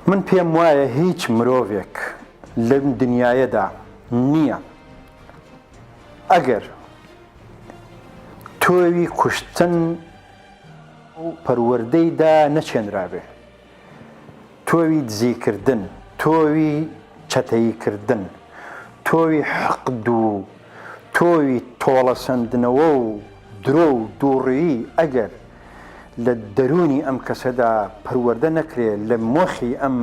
من پێم وایە هیچ مرۆڤێک لەم دنیاەدا نییە ئەگەر تۆوی کوشتن و پەروەردەیدا نەچێنرابێ تۆوی دزیکردن تۆوی چەتەییکردن تۆوی حەق دوو تۆوی تۆڵە سندنەوە و درۆ و دووڕیی ئەگەر لە دەروونی ئەم کەسەدا پەروەردە نەکرێ، لە مۆخی ئەم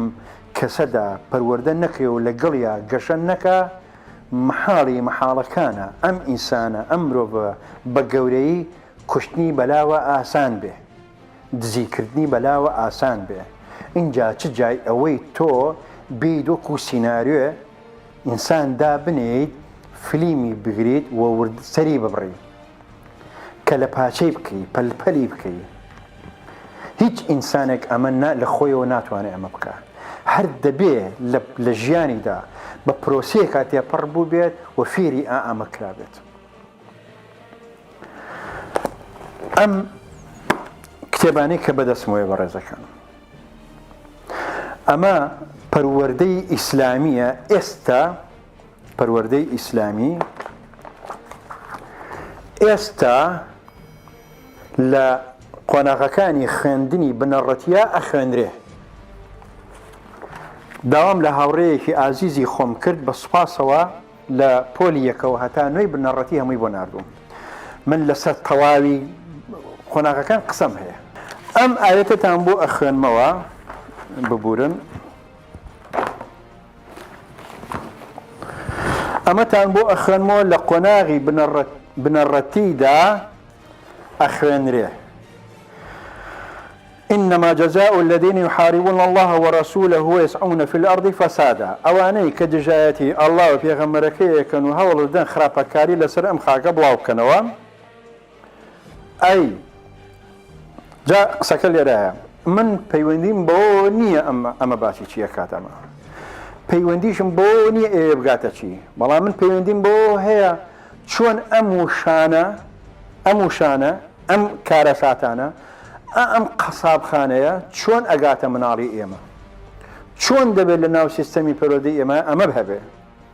کەسەدا پەروەردە نەکرێ و لەگەڵیا گەشە نەکا، مەحاڵی مەحاڵەکانە ئەم ئینسانە، ئەم مرۆڤە بە گەورەیی کوشتنی بەلاوە ئاسان بێ، دزی کردنی بەلاوە ئاسان بێ، ئینجا چ جای ئەوەی تۆ بێیت وەکوو سیناریۆێ ئینسان دابنێیت، فلیمی بگریت و ورد سەری ببڕی. کەلە پاچەی بکەی پەل پەلی بکەی هیچ ئینسانێک ئەمە لە خۆیەوە ناتوانێت ئەمە بکە هەر دەبێ لە ژیانیدا بە پرۆسیەکە تێپەڕ بوو بێت و فێری ئا ئەمە کرابێت ئەم کتێبانی کە بەدەستمەوەی بەڕێزەکان ئەمە پەروەەردەی ئیسلامیە ئێستا پەروەردەی ئیسلامی ئێستا لە قۆناغەکانی خوێندنی بنەڕەتیا ئەخوێنرێ داوام لە هاوڕێیەکی ئازیزی خۆم کرد بە سوپاسەوە لە پۆلی یەکەوە هەتا نوێی بنەڕەتی هەمووی بۆ نردوم من لەسەر تەواوی قۆناغەکان قسەم هەیە ئەم ئاەتتان بۆ ئەخوێنمەوە ببورن ئەمەتان بۆ ئەخوێنمەوە لە قۆناغی بنەڕەتیدا ئەخوێنرێ إنما جزاء الذين يحاربون الله ورسوله ويسعون في الأرض فسادا ئەوانەی کە دژایەتی ئەڵا و پێغەمەرەکەی ئەکەن و هەوڵدەن خراپەکاری لەسەر ئەم خاکە بڵاوکەنەوە ئەی جا قسەکە لێرایە من پەیوەندیم بۆ نییە ئەمە ئەمە باسی چییە کات ئەمە پەیوەندیشم بۆ نییە ئێ بگاتە چی بەڵام من پەیوەندیم بۆ هەیە چۆن ئەم وشانە ئەم وشانە ئەم کارە ساتانە ئەم قەسابخانەیە چۆن ئەگاتە مناڵی ئێمە چۆن دەبێت لە ناو سیستەمی پەرۆدەی ئێمە ئەمە هەبێ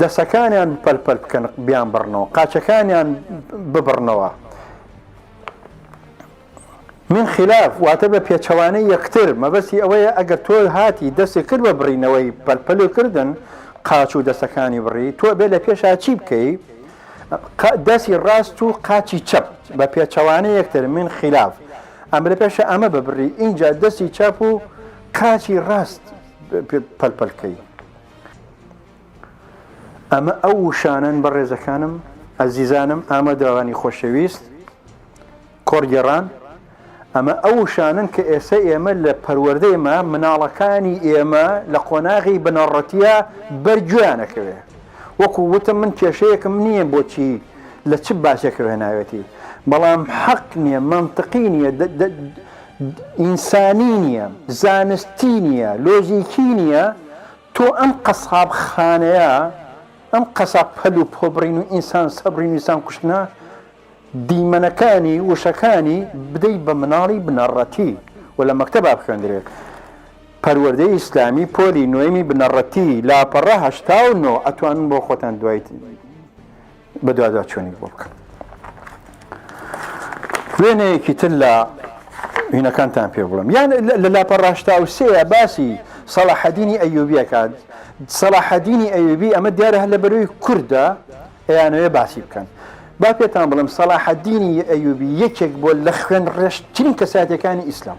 دەسەکانیان پەل پەل بکەن بیان بڕنەوە قاچەکانیان ببڕنەوە من خلاف واتە بە پێچەوانەی یەکتر مەبەستی ئەوەیە ئەگەر تۆ هاتی دەستی کرد بە بڕینەوەی پەلپەلی کردن قاچ و دەستەکانی بڕی تۆ بێ لە پێشا چی بکەی دەستی ڕاست و قاچی چەپ بە پێچەوانە یەکتر من خلاف ئەم لە پێشە ئەمە ببڕی اینجا دەستی چاپ و قاچی ڕاست پەلپەلکەی ئەمە ئەو وشانەن بەڕێزەکانم ئەزیزانم ئامادەوانی خۆشەویست کۆرگێڕان ئەمە ئەو وشانن کە ئێستا ئێمە لە پەروەردەیمە مناڵەکانی ئێمە لە قۆناغی بنەڕەتە بەرگویانەکەوێ وەکو وتم من کێشەیەکم نییە بۆچی لە چ باسێکەوە ناوێتی بەڵام حەق نییە منطقی نییە ئینسانی نییە زانستی نییە لۆژیکی نییە تۆ ئەم قەساب خانەیە ئەم قەساب پەل و پۆ بڕین و ئینسان سەبرین و ئینسان کوشتنە دیمەنەکانی وشەکانی بدەی بە مناڵی بنەڕەتی و لە مەکتەبا بخوێندرێت پەروەردەی ئیسلامی پۆلی نۆیمی بنەڕەتی لاپەڕە هەشتا و نۆ ئەتوانن بۆ خۆتان دوای بەدواداچوونی بۆ بکەم. وێنەیەکی تر لە وینەکانتان پێ بڵم یان لە لاپە ڕاشتاوسەیە باسی سەڵاحەدینی ئەیوبیەکان سەڵاحەدینی ئەیوبی ئەمە دیارە هەر لە بەروی کووردە ئەیانەوەێ باسی بکەن با پێتان بڵم سەڵاحەدینی ئەیوبی یەکێک بۆ لە خوێن ڕێشترین کەساتەکانی ئیسلام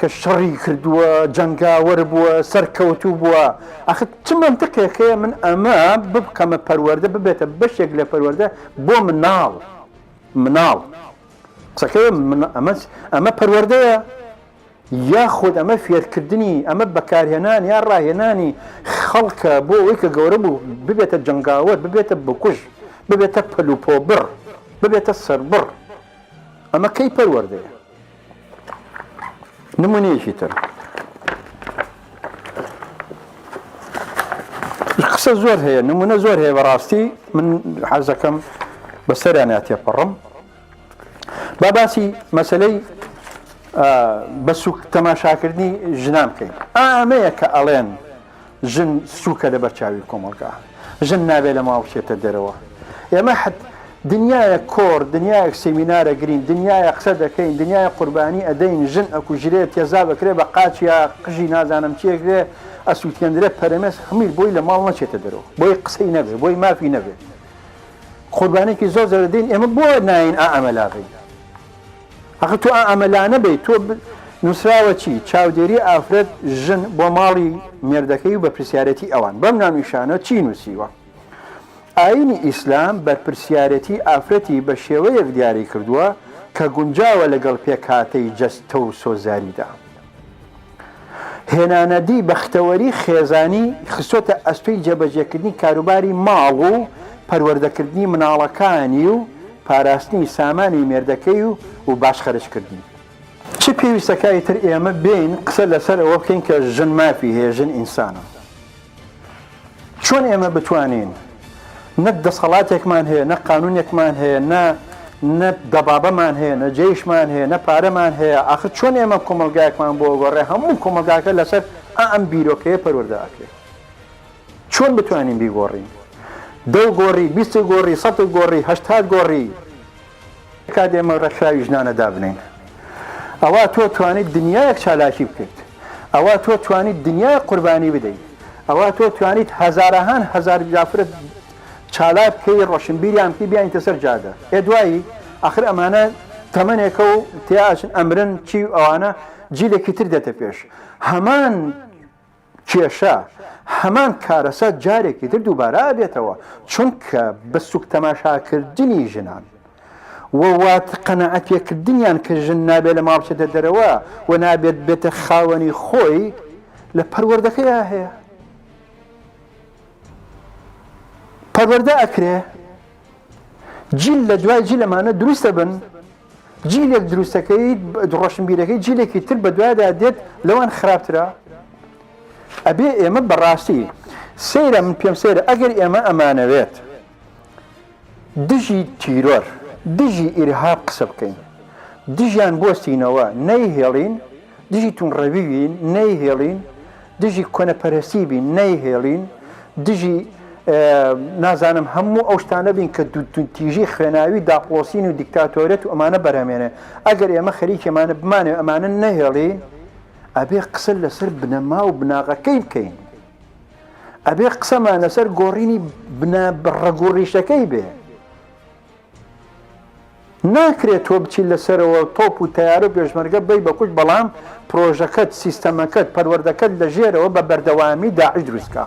کە شەڕی کردووە جەنگاوەر بووە سەرکەوتوو بووە ئەخ چ منتقێک هەیە من ئەمە ببکەمە پەروەەردە ببێتە بەشێک لە پەروەەردە بۆ مناڵ مناڵ قسەکە ئەمە ئەمە پەروەەردەیە یاخود ئەمە فێرکردنی ئەمە بەکارهێنان یا ڕاهێنانی خەڵکە بۆ ئەوەی کە گەورە بوو ببێتە جەنگاوەر ببێتە بکوژ ببێتە پەلوپۆبڕ ببێتە سەربڕ ئەمە کەی پەروەەردەیە نمونەیەکی تر قسە زۆر هەیە نمونە زۆر هەیە بەڕاستی من حەزەکەم بەسەریان تێپەڕم با باسی مەسلەی بە سوک تەماشاکردنی ژنان بکەین ئامەیە کە ئەڵێن ژن سوکە لە بەرچاوی کۆمەڵگا ژن نابێت لە ماڵ بچێتە دەرەوە ئێمە حت دنیاە کۆر دنیایەک سمینارە گرین دنیاە قسە دەکەین دنیای قوربانی ئەدەین ژن ئەکوژرێت تێزا بکرێ بە قاچیا قژی نازانم چیەکرێ ئەسووتێنرێت پەرمێز هەمیر بۆی لە ماڵ نەچێتە دەرەوە بۆی قسەی نەبێت بۆی مافی نەبێت قوربانێکی زۆر زەردین ئێمە بۆ ناین ئامەلاغین ئەخە تۆ ئا ئەمەلانە بەی تۆ نووسراوە چی چاودێری ئافرەت ژن بۆ ماڵی مێردەکەی و بەپرسیارەتی ئەوان بەم ناونیشانە چی نووسیوە ئاینی ئیسلام بەرپرسیارەتی ئافرەتی بە شێوەیەک دیاری کردووە کە گونجاوە لەگەڵ پێکهاتەی جەستە و سۆزاریدا هێنانەدی بەختەوەری خێزانی خستۆتە ئەستۆی جێبەجێکردنی کاروباری ماڵ و پەروەردەکردنی مناڵەکانی و پاراستنی سامانی مێردەکەی و و باش خەرج کردنی. چ پێویستە کە ئیتر ئێمە بێین قسە لەسەر ئەوە بکەین کە ژن مافی هەیە، ژن ئینسانە. چۆن ئێمە بتوانین نە دەسەڵاتێکمان هەیە نە قانونێکمان هەیە نە نە دەبابەمان هەیە نە جێیشمان هەیە نە پارەمان هەیە ئاخر چۆن ئێمە کۆمەلگایەکمان بۆ گۆڕێ هەموو کۆمەلگاکە لەسەر ئەم بیرۆکەیە پەروەەردە ئەکرێت چۆن بتوانین بیگۆڕین دەو گۆڕی بیست گۆڕی سە گۆڕی هەشتاد گۆڕی کاتێ ئێمە ڕێکخراوی ژنانە دابنێین ئەوا تۆ توانیت دنیایەک چالاکی بکەیت ئەوا تۆ توانیت دنیای قوربانی بدەیت ئەوا تۆ توانیت هەزارەهان هەزار جافرت چالاک بکەی ڕۆشنبیریان بکەی بیانیتە سەر جادە ئێ دوایی ئاخر ئەمانە تەمەنێکە و تیاچن ئەمرن چی ئەوانە جیلێکی تر دێتە پێش هەمان کێشە، هەمان کارەسا جارێکی تر دووبارە ئەبێتەوە، چونکە بە سوک تەماشاکردنی ژنان و وات قەناعەت پێکردنیان کە ژن نابێت لە ماڵ بچێتە دەرەوە و نابێت بێتە خاوەنی خۆی لە پەروەردەکەیا هەیە. پەروەردە ئەکرێ جیل لە دوای جیل ئەمانە دروست ئەبن. جیلێک دروستەکەیت ڕۆشنبیرەکەی جیلێکی تر بە دوایدا دێت لەوان خراپترە ئەبێ ئێمە بەڕاستی سەیرە من پێم سەیرە ئەگەر ئێمە ئەمانەوێت دژی تیرۆر دژی ئیرهاب قسە بکەین دژیان بۆستینەوە نەیهێڵین دژی توندڕەوی بین نەیهێڵین، دژی کۆنەپەرەستی بین نەیهێڵین، دژی نازانم هەموو ئەو شتانە بین کە تیژی خوێناوی داپڵۆسین و دیکتاتۆریەت و ئەمانە بەرهەمێنێ ئەگەر ئێمە خەریکی ئەمانە بمانێ ئەمانە نەهێڵین ئەبێ قسە لەسەر بنەما و بناغەکەی بکەین ئەبێ قسەمان لەسەر گۆڕینی بنا ڕەگوڕیشەکەی بێ ناکرێت تۆ بچیت لەسەرەوە تۆپ و تەیارە و پێشمەرگە بەی بە کوشت بەڵام پرۆژەکەت سیستەمەکەت پەروەردەکەت لە ژێرەوە بە بەردەوامی داعش دروستکە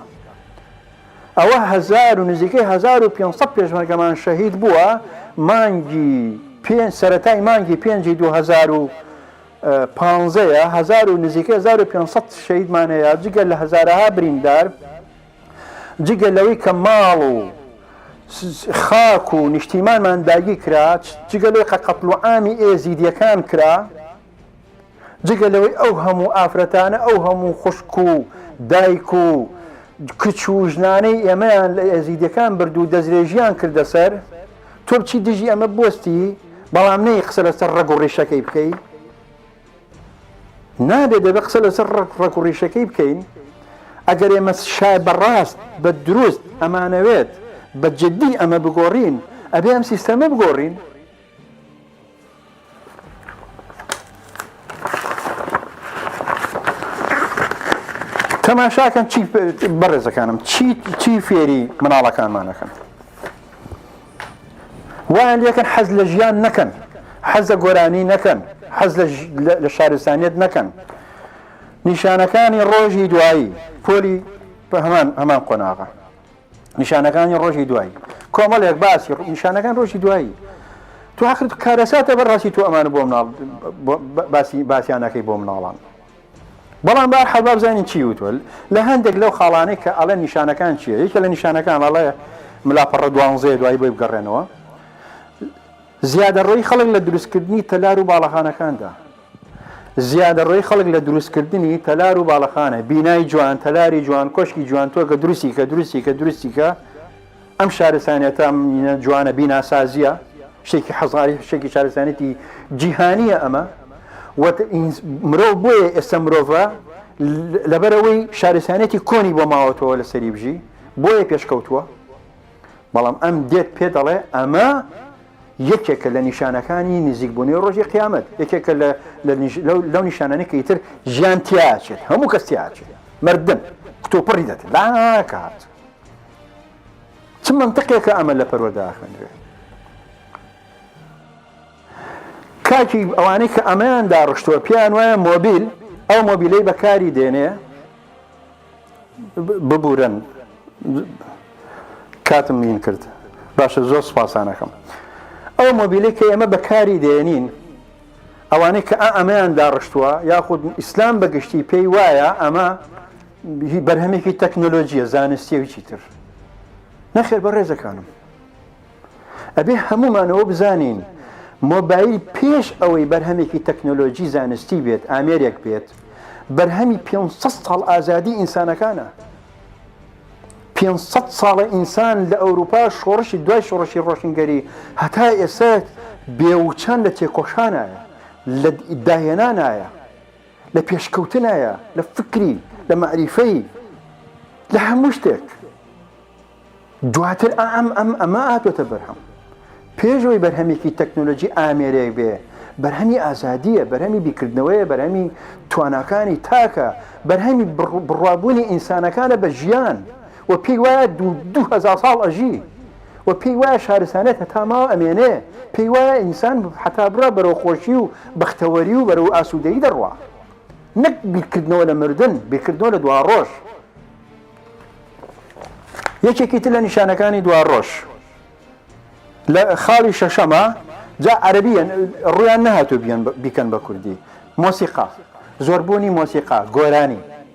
ئەوە هزار و نزیکەی 1500 پێشمەرگەمان شەهید بووە مانگی پێ سەتای مانگی پێنجی 2000 پانزەیە هزار و نزیکە 1500 شەیدمانەیە جگە لە هزارەها بریندار جگە لەوەی کە ماڵ و خاک و نیشتیمانمان داگیر کرا، جگە لەوەی قە قەتڵوعامی ئێزیدیەکان کرا، جگە لەوەی ئەو هەموو ئافرەتانە ئەو هەموو خوشک و دایک و کچ و ژنانەی ئێمەیان لە ئێزیدیەکان برد و دەسترێژیان کردە سەر، تۆ بچی دژی ئەمە بوەستی، بەڵام نەی قسە لەسەر ڕەگ و ڕیشەکەی بکەی. نابێت دەبێت قسە لەسەر ڕق و ڕیشەکەی بکەین ئەگەر ئێمە شای بەڕاست بە دروست ئەمانەوێت بە جددی ئەمە بگۆڕین ئەبێ ئەم سیستەمە بگۆڕین تەماشاکەن چی بەڕێزەکانم چی چی فێری مناڵەکانمانەکەن وایان لێکن حەز لە ژیان نەکەن حەز لە گۆرانی نەکەن حەز لە شارستانیت نەکەن نیشانەکانی ڕۆژی دوایی پۆلی بە هەمان هەمان قۆناغە نیشانەکانی ڕۆژی دوایی کۆمەڵێک باسی نیشانەکان ڕۆژی دوایی تو حەقت کارەساتە بەڕاستی تو ئەمان بۆ مناڵ باسی باسییانەکەی بۆ مناڵان بەڵام بە هەر حاڵ با بزانین چی وتوە لە هەندێک لەو خاڵانەی کە ئەڵێ نیشانەکان چییە یەکێ لە نیشانەکان ئەڵێ ملا پەڕە دوانزەیە دوای بۆی بگەڕێنەوە زیادەڕۆی خەڵک لە دروستکردنی تەلار و باڵەخانەکاندا زیادەڕۆی خەڵک لە دروستکردنی تەلار و باڵەخانە بینای جوان تەلاری جوان کۆشکی جوان تۆ کە دروستی کە دروستی کە دروستی کە ئەم شارستانیەتە ئەم مینە جوانە بیناسازیە شتێکی حەزاری شتێکی شارستانێتی جیهانیە ئەمە مرۆڤ بۆیە ئێستا مرۆڤە لەبەرەوەی شارستانێتی کۆنی بۆ ماوەتەوە لە سەری بژی بۆیە پێشکەوتووە بەڵام ئەم دێت پێ دەڵێ ئەمە یەکێکە لە نیشانەکانی نزیکبوونی ڕۆژی قیامەت یەکێکە لەو نیشانانی کە ئیتر ژیان تیاچێت هەموو کەس تیاچێت مردن کتۆپڕی دەکرد لاکات چ منتقێکە ئەمە لە پەروەدا خوێنرێ کاکی ئەوانەی کە ئەمەیان داڕشتووە پێیان وایە مۆبیل ئەو مۆبیلەی بەکاری دێنێ ببورن کاتم نین کرد باشە زۆر سپاسانەکەم ئەو مۆبیلی کە ئێمە بەکاری دێنین ئەوانەی کە ئەمەیان داڕشتووە یاخود ئیسلام بەگشتی پێی وایە ئەمە هی بەرهەمێکی تەکنۆلۆژیە زانستیەویی تر نەخێر بە ڕێزەکانم ئەبێ هەمومانەوە بزانین مۆبایل پێش ئەوەی بەرهەمێکی تەکنۆلۆژی زانستی بێت ئامێرێک بێت بەرهەمی 500 ساڵ ئازادی ئینسانەکانە 500 ساڵە ئینسان لە ئەوروپا شۆڕشی دوای شۆڕشی ڕۆشنگەری هەتا ئێستا بێوچان لە تێکۆشانایە لە داهێنانایە لە پێشکەوتنایە لە فکری لە مەعریفەی لە هەموو شتێک دواتر ئەم ئەم ئەمە ئاتۆتە بەرهەم پێشەوەی بەرهەمێکی تەکنۆلۆژی ئامێرێک بێ بەرهەمی ئازادیە بەرهەمی بیکردنەوەیە بەرهەمی تواناکانی تاکە بەرهەمی بڕوابوونی ئینسانەکانە بە ژیان و پێی وایە دوهزار ساڵ ئەژی و پێی وایە شارستانیەت هەتا ماوە ئەمێنێ، پێی وایە ئینسان هەتا بڕوا بەرەو خۆشی و بەختەوەری و بەرەو ئاسوودەیی دەڕوا، نەک بیرکردنەوە لە مردن، بیرکردنەوە لە دواڕۆژ. یەکێکی تر لە نیشانەکانی دواڕۆژ لە خاڵی شەشەمە، جا عەرەبییە ڕوویان نەهاتوو بیکەن بە کوردی، مۆسیقا، زۆربوونی مۆسیقا، گۆرانی.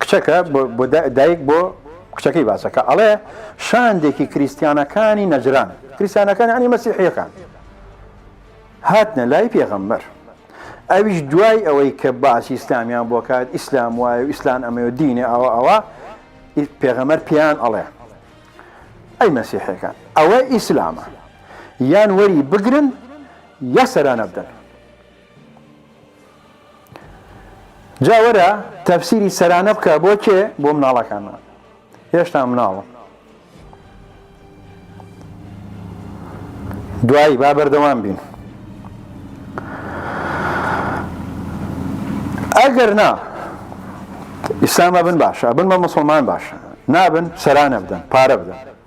کچەکە، بۆ دایک بۆ کچەکەی باسەکە ئەڵێ، شاندێکی کریستیانەکانی نەجران، کریستیانەکان یانی مەسیحیەکان، هاتنە لای پێغەمبەر، ئەویش دوای ئەوەی کە باسی ئیسلامیان بۆ کات، ئیسلام وایە و ئیسلام ئەمەیە و دینێ ئەوە ئەوە، پێغەمبەر پێیان ئەڵێ، ئەی مەسیحیەکان، ئەوە ئیسلامە، یان وەری بگرن یا سەرانە بدەن. جا وەرە تەفسیری سەرانە بکە بۆ کێ بۆ مناڵەکانمان هێشتا مناڵم دوایی با بەردەوام بین ئەگەر نا ئیسلامە بن باشە بن بە مسلمان باشە نابن سەرانە بدەن پارە بدەن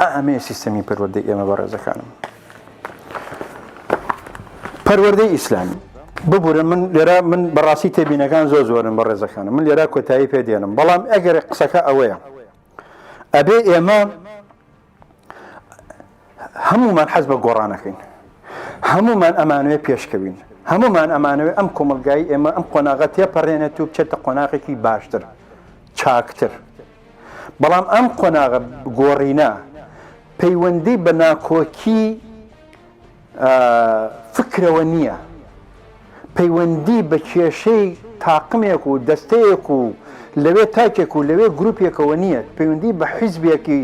ئا ئەمەیە سیستەمی پەروەردەی ئێمە بەڕێزەکانم پەروەردەی ئیسلامی ببورە من لێرا من بەڕاستی تێبینەکان زۆ زۆرن بە ڕێزەکانم من لێرا کۆتایی پێ دێنم بەڵام ئەگەر قسەکە ئەوەیە ئەبێ ئێمە هەمومان حەز بە گۆڕانەکەین هەمومان ئەمانوێ پێشکەوین هەمومان ئەمانوێ ئەم کۆمەلگای ئێمە ئەم قۆناغە تێپەڕێنێت و بچێتە قۆناغێکی باشتر چاکتر بەڵام ئەم قۆناغە گۆڕینە پەیوەندی بە ناکۆکی فکرەوە نییە، پەیوەندی بە کێشەی تاقمێک و دەستەیەک و لەوێ تاکێک و لەوێ گروپێکەوە نییە، پەیوەندی بە حیزبێکی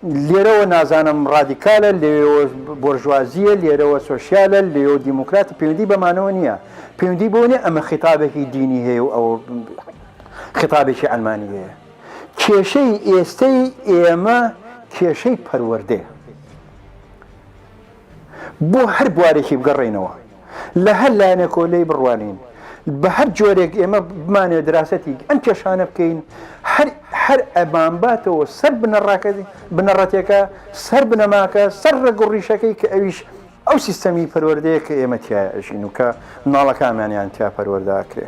لێرەوە نازانم ڕادیکالە لێەوە بۆرژوازیە لێرەوە سۆسیالە لێەوە دیموکراتی پەیوەندی بەمانەوە نییە پەیوەندی بۆ نیە ئەمە خیتابێکی دینی هەیە و ئەوە خیتابێکی عەلمانییە. کێشەی ئێستەی ئێمە کێشەی پەروەردەیە. بۆ هەر بوارێکی بگەڕێینەوە، لە هەر لایەنێکەوە لێی بڕوانین، بە هەر جۆرێک ئێمە بمانەوێت دراسەتی ئەم کێشانە بکەین، هەر ئەمانباتەوە سەر بنەڕەتێکە، سەر بنەماکە، سەر ڕەگ و ڕیشەکەی کە ئەویش ئەو سیستەمی پەروەردەیە کە ئێمە تیایە ئەژین و کە مناڵەکانمانیان تیا پەروەردە ئەکرێ.